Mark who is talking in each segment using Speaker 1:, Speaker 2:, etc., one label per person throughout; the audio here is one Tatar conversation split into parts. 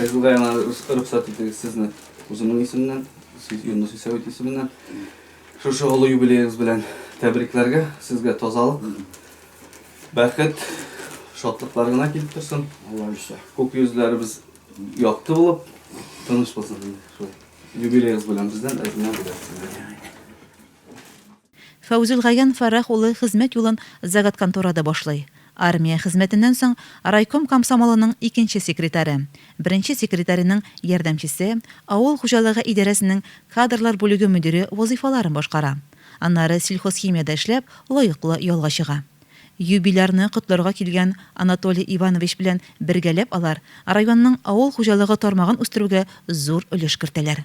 Speaker 1: Фәйзулла яна рөхсәт итегез сезне үземнең исемнән, сез Юнус Исәвит исеменнән шушы олы юбилеегыз белән тәбрикләргә, сезгә тазалык, бәхет, шатлыклар гына килеп торсын. Алла ишә. Күк йөзләребез якты булып, тыныч булсын. Юбилеегыз белән бездән әзмә бүләк.
Speaker 2: Фәүзелгаян Фәрах улы хезмәт юлын заготконторада башлый. Армия хезмәтеннән соң райком комсомолының икенче секретаре, беренче секретаренең ярдәмчесе, авыл хуҗалыгы идарәсенең кадрлар бүлеге мөдире вазыйфаларын башкара. Аннары сельхозхимиядә эшләп, лаеклы ялга чыга. Юбилярны котларга килгән Анатолий Иванович белән бергәләп алар районның авыл хуҗалыгы тармагын үстерүгә зур өлеш кертәләр.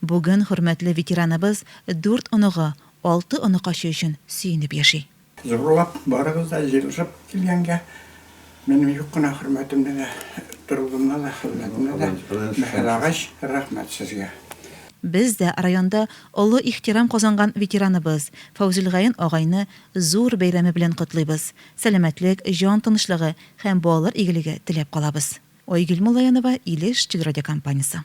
Speaker 2: Бүген хөрмәтле ветераныбыз дүрт оныгы, алты оныкачы өчен сөенеп яши. Зурлап,
Speaker 3: барыбыз да җыелышып килгәнгә, минем юк кына хөрмәтемне дә, торылуымны да, хезмәтемне дә бәһалагач, рәхмәт сезгә. Без дә
Speaker 2: районда олы ихтирам казанган ветераныбыз Фәүзелгаен агайны зур бәйрәме белән котлыйбыз, сәламәтлек, җан тынычлыгы һәм балалар игелеге теләп калабыз. Айгөл Муллаянова, Илеш телерадиокомпаниясе.